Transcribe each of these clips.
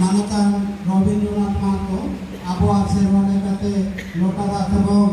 ᱢᱟᱱᱚᱛᱟᱱ ᱨᱚᱵᱤᱱᱫᱨᱚᱱᱟᱛᱷ ᱢᱟᱦᱟᱛᱚ ᱟᱵᱚᱣᱟᱜ ᱥᱮᱨᱣᱟ ᱞᱮᱠᱟᱛᱮ ᱞᱚᱴᱟ ᱫᱟᱜ ᱛᱮᱵᱚᱱ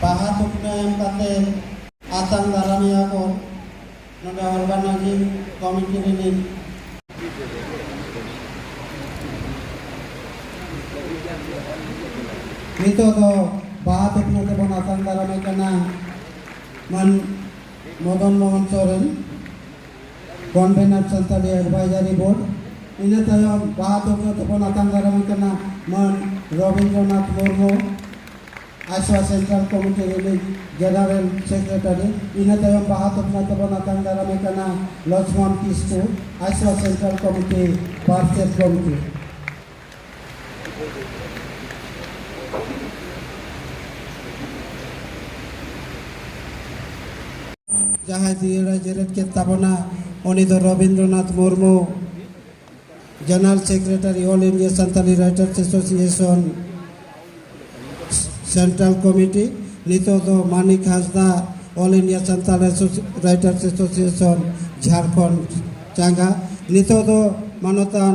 ᱵᱟᱦᱟ ᱥᱩᱠᱱᱟ ᱮᱢ ᱠᱟᱛᱮ ᱟᱛᱟᱝ ᱫᱟᱨᱟᱢᱮᱭᱟ ᱠᱚ ᱱᱚᱰᱮ ᱚᱨᱜᱟᱱᱟᱭᱡᱤᱝ ᱠᱚᱢᱤᱴᱤ ᱨᱤᱱᱤᱡ ᱱᱤᱛᱚᱜ ᱫᱚ ᱵᱟᱦᱟ ᱥᱩᱠᱱᱟ ᱛᱮᱵᱚᱱ ᱟᱛᱟᱝ ᱫᱟᱨᱟᱢᱮ ᱠᱟᱱᱟ ᱢᱟᱱ Madan Mohan Soren convener Santali advisory board ᱤᱱᱟᱹ ᱛᱟᱭᱚᱢ ᱵᱟᱦᱟ ᱫᱚᱠᱚ ᱛᱮᱵᱚᱱ ᱟᱛᱟᱝ ᱫᱟᱨᱟᱢ ᱠᱟᱱᱟ ᱢᱟᱹᱱ ᱨᱚᱵᱤᱱᱫᱨᱚᱱᱟᱛᱷ ᱢᱩᱨᱢᱩ ᱟᱥᱣᱟ ᱥᱮᱱᱴᱨᱟᱞ ᱠᱚᱢᱤᱴᱤ ᱨᱤᱱᱤᱡ ᱡᱮᱱᱟᱨᱮᱞ ᱥᱮᱠᱨᱮᱴᱟᱨᱤ ᱤᱱᱟᱹ ᱛᱟᱭᱚᱢ ᱵᱟᱦᱟ ᱫᱚᱠᱚ ᱛᱮᱵᱚᱱ ᱟᱛᱟᱝ ᱫᱟᱨᱟᱢ ᱠᱟᱱᱟ ᱞᱚᱪᱷᱢᱚᱱ ᱠᱤᱥᱠᱩ ᱟᱥᱣᱟ ᱥᱮᱱᱴᱨᱟᱞ ᱠᱚᱢᱤᱴᱤ ᱯᱟᱨᱪᱮᱛ ᱜᱚᱢᱠᱮ ᱡᱟᱦᱟᱸᱭ ᱡᱤᱭᱟᱹᱲᱟᱭ ᱡᱮᱨᱮᱫ ᱠᱮᱫ ᱛᱟᱵᱚᱱᱟ ᱩᱱᱤ ᱫᱚ Rabindranath Murmu general secretary all India Santali writers association central committee ᱱᱤᱛᱚᱜ ᱫᱚ Manik Hansda all India Santal writers association Jharkhand ᱪᱟᱸᱜᱟ ᱱᱤᱛᱚᱜ ᱫᱚ ᱢᱟᱱᱚᱛᱟᱱ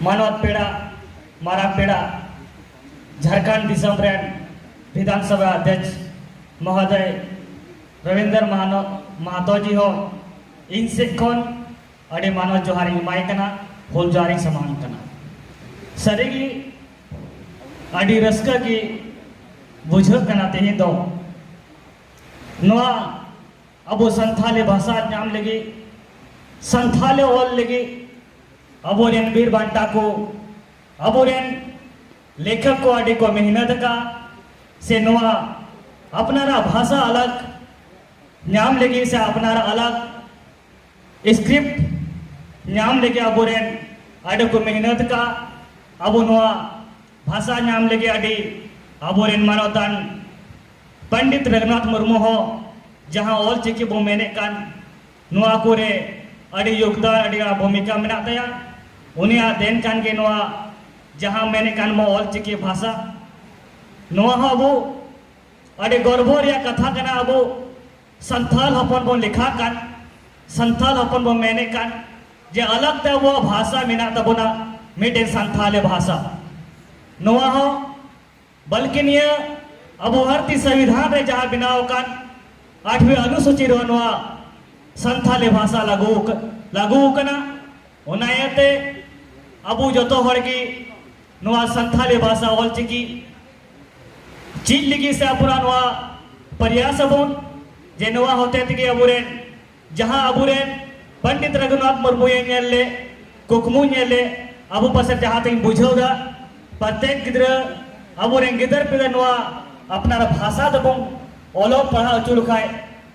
ᱢᱟᱱᱚᱛ ᱯᱮᱲᱟ ᱢᱟᱨᱟᱝ ᱯᱮᱲᱟ ᱡᱷᱟᱲᱠᱷᱚᱸᱰ ᱫᱤᱥᱚᱢ ᱨᱮᱱ ᱵᱤᱫᱷᱟᱱ ᱥᱚᱵᱷᱟ ᱟᱫᱷᱭᱚᱠᱥ ᱢᱚᱦᱳᱫᱚᱭ ᱨᱚᱵᱤᱱᱫᱨ ᱢᱟᱦᱟᱱᱚ ᱢᱟᱦᱟᱛᱚ ᱡᱤ ᱦᱚᱸ ᱤᱧ ᱥᱮᱫ ᱠᱷᱚᱱ ᱟᱹᱰᱤ ᱢᱟᱱᱚᱛ ᱡᱚᱦᱟᱨ ᱤᱧ ᱮᱢᱟᱭ ᱠᱟᱱᱟ ᱦᱩᱞ ᱡᱚᱦᱟᱨ ᱤᱧ ᱥᱟᱢᱟᱝ ᱠᱟᱱᱟ ᱥᱟᱹᱨᱤᱜᱮ ᱟᱹᱰᱤ ᱨᱟᱹᱥᱠᱟᱹ ᱜᱮ ᱵᱩᱡᱷᱟᱹᱜ ᱠᱟᱱᱟ ᱛᱮᱦᱮᱧ ᱫᱚ ᱱᱚᱣᱟ ᱟᱵᱚ ᱥᱟᱱᱛᱷᱟᱞᱤ ᱵᱷᱟᱥᱟ ᱧᱟᱢ ᱞᱟᱹᱜᱤᱫ ᱥᱟᱱᱛᱷᱟᱞᱤ ᱚᱞ ᱞᱟᱹᱜᱤᱫ ᱟᱵᱚᱨᱮᱱ ᱵᱤᱨ ᱵᱟᱱᱴᱟ ᱠᱚ ᱟᱵᱚᱨᱮᱱ ᱞᱮᱠᱷᱚᱠ ᱠᱚ ᱟᱹᱰᱤ ᱠᱚ ᱢᱮᱦᱱᱚᱛ ᱟᱠᱟᱫ ᱥᱮ ᱱᱚᱣᱟ ᱟᱯᱱᱟᱨᱟᱜ ᱵᱷᱟᱥᱟ ᱟᱞᱟᱜ ᱧᱟᱢ ᱞᱟᱹᱜᱤᱫ ᱥᱮ ᱟᱯᱱᱟᱨ ᱟᱞᱟᱜ ᱥᱠᱨᱤᱯᱴ ᱧᱟᱢ ᱞᱟᱹᱜᱤᱫ ᱟᱵᱚᱨᱮᱱ ᱟᱹᱰᱤ ᱠᱚ ᱢᱮᱦᱱᱚᱛ ᱟᱠᱟᱫ ᱟᱵᱚ ᱱᱚᱣᱟ ᱵᱷᱟᱥᱟ ᱧᱟᱢ ᱞᱟᱹᱜᱤᱫ ᱟᱹᱰᱤ ᱟᱵᱚᱨᱮᱱ ᱢᱟᱱᱚᱛᱟᱱ ᱯᱚᱱᱰᱤᱛ ᱨᱚᱜᱷᱩᱱᱟᱛᱷ ᱢᱩᱨᱢᱩ ᱦᱚᱸ ᱡᱟᱦᱟᱸ ᱚᱞ ᱪᱤᱠᱤ ᱵᱚ ᱢᱮᱱᱮᱫ ᱠᱟᱱ ᱱᱚᱣᱟ ᱠᱚᱨᱮ ᱟᱹᱰᱤ ᱭᱳᱜᱽᱫᱟᱱ ᱟᱹᱰᱤ ᱜᱟᱱ ᱵᱷᱩᱢᱤᱠᱟ ᱢᱮᱱᱟᱜ ᱛᱟᱭᱟ ᱩᱱᱤᱭᱟᱜ ᱫᱮᱱ ᱠᱟᱱ ᱜᱮ ᱱᱚᱣᱟ ᱡᱟᱦᱟᱸ ᱢᱮᱱᱮᱫ ᱠᱟᱱ ᱵᱚ ᱚᱞ ᱪᱤᱠᱤ ᱵᱷᱟᱥᱟ ᱱᱚᱣᱟ ᱦᱚᱸ ᱟᱵᱚ ᱟᱹᱰᱤ ᱜᱚᱨᱵᱚ ᱨᱮᱭᱟᱜ ᱠᱟᱛᱷᱟ ᱠᱟᱱᱟ ᱟᱵᱚ ᱥᱟᱱᱛᱟᱞ ᱦᱚᱯᱚᱱ ᱵᱚᱱ ᱞᱮᱠᱷᱟᱜ ᱠᱟᱱ ᱥᱟᱱᱛᱟᱞ ᱦᱚᱯᱚᱱ ᱵᱚᱱ ᱢᱮᱱᱮᱫ ᱠᱟᱱ ᱡᱮ ᱟᱞᱟᱜᱽ ᱛᱮ ᱟᱵᱚᱣᱟᱜ ᱵᱷᱟᱥᱟ ᱢᱮᱱᱟᱜ ᱛᱟᱵᱚᱱᱟ ᱢᱤᱫᱴᱮᱱ ᱥᱟᱱᱛᱟᱞᱤ ᱵᱷᱟᱥᱟ ᱱᱚᱣᱟ ᱦᱚᱸ ᱵᱚᱞᱠᱤ ᱱᱤᱭᱟᱹ ᱟᱵᱚ ᱵᱷᱟᱨᱚᱛᱤᱭᱚ ᱥᱚᱝᱵᱤᱫᱷᱟᱱ ᱨᱮ ᱡᱟᱦᱟᱸ ᱵᱮᱱᱟᱣ ᱟᱠᱟᱱ ᱟᱴᱷᱣᱮ ᱚᱱᱩᱥᱩᱪᱤ ᱨᱮ ᱱᱚᱣᱟ ᱥᱟᱱᱛᱟᱞᱤ ᱵᱷᱟᱥᱟ ᱞᱟᱹᱜᱩ ᱞᱟᱹᱜᱩ ᱟᱠᱟᱱᱟ ᱚᱱᱟ ᱤᱭᱟᱹᱛᱮ ᱟᱵᱚ ᱡᱚᱛᱚ ᱦᱚᱲ ᱜᱮ ᱱᱚᱣᱟ ᱥᱟᱱᱛᱟᱞᱤ ᱵᱷᱟᱥᱟ ᱚᱞᱪᱤᱠᱤ ᱪᱮᱫ ᱞᱟᱹᱜᱤᱫ ᱥᱮ ᱟᱵᱚᱨᱟᱜ ᱱᱚᱣᱟ ᱯᱨᱚᱭᱟᱥ ᱟᱵᱚᱱ ᱡᱮ ᱱᱚᱣᱟ ᱦᱚᱛᱮ ᱛᱮᱜᱮ ᱟᱵᱚᱨᱮᱱ ᱡᱟᱦᱟᱸ ᱟᱵᱚᱨᱮᱱ ᱯᱚᱱᱰᱤᱛ ᱨᱚᱜᱷᱩᱱᱟᱛᱷ ᱢᱩᱨᱢᱩᱭ ᱧᱮᱞ ᱞᱮ ᱠᱩᱠᱢᱩ ᱧᱮᱞ ᱞᱮ ᱟᱵᱚ ᱯᱟᱥᱮ ᱡᱟᱦᱟᱸ ᱛᱮᱧ ᱵᱩᱡᱷᱟᱹᱣ ᱫᱟ ᱯᱨᱚᱛᱮᱠ ᱜᱤᱫᱽᱨᱟᱹ ᱟᱵᱚᱨᱮᱱ ᱜᱤᱫᱟᱹᱨ ᱯᱤᱫᱟᱹᱨ ᱱᱚᱣᱟ ᱟᱯᱱᱟᱨ ᱵᱷᱟᱥᱟ ᱫᱚᱵᱚᱱ ᱚᱞᱚᱜ ᱯᱟᱲᱦᱟᱣ ᱦᱚᱪᱚ ᱞᱮᱠᱷᱟᱡ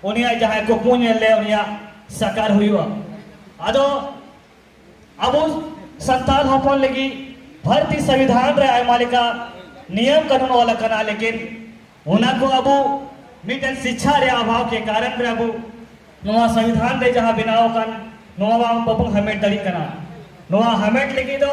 ᱩᱱᱤᱭᱟᱜ ᱡᱟᱦᱟᱸᱭ ᱠᱩᱠᱢᱩ ᱧᱮᱞ ᱞᱮ ᱩᱱᱤᱭᱟᱜ ᱥᱟᱠᱟᱨ ᱦᱩᱭᱩᱜᱼᱟ ᱟᱫᱚ ᱟᱵᱚ ᱥᱟᱱᱛᱟᱲ ᱦᱚᱯᱚᱱ ᱞᱟᱹᱜᱤᱫ ᱵᱷᱟᱨᱚᱛᱤ ᱥᱚᱝᱵᱤᱫᱷᱟᱱ ᱨᱮ ᱟᱭᱢᱟ ᱞᱮᱠᱟ ᱱᱤᱭᱚᱢ ᱠᱟᱹᱱᱩᱱ ᱚᱞ ᱟᱠᱟᱱᱟ ᱞᱮᱠᱤᱱ ᱚᱱᱟ ᱠᱚ ᱟᱵᱚ ᱢᱤᱫᱴᱮᱱ ᱥᱤᱪᱪᱷᱟ ᱨᱮ ᱟᱵᱷᱟᱣ ᱠᱮ ᱠᱟᱨᱚᱱ ᱨᱮ ᱟᱵᱚ ᱱᱚᱣᱟ ᱥᱚᱝᱵᱤᱫᱷᱟᱱ ᱨᱮ ᱡᱟᱦᱟᱸ ᱵᱮᱱᱟᱣ ᱟᱠᱟᱱ ᱱᱚᱣᱟ ᱵᱟᱵᱚᱱ ᱦᱟᱢᱮᱴ ᱫᱟᱲᱮᱭᱟᱜ ᱠᱟᱱᱟ ᱱᱚᱣᱟ ᱦᱟᱢᱮᱴ ᱞᱟᱹᱜᱤᱫ ᱫᱚ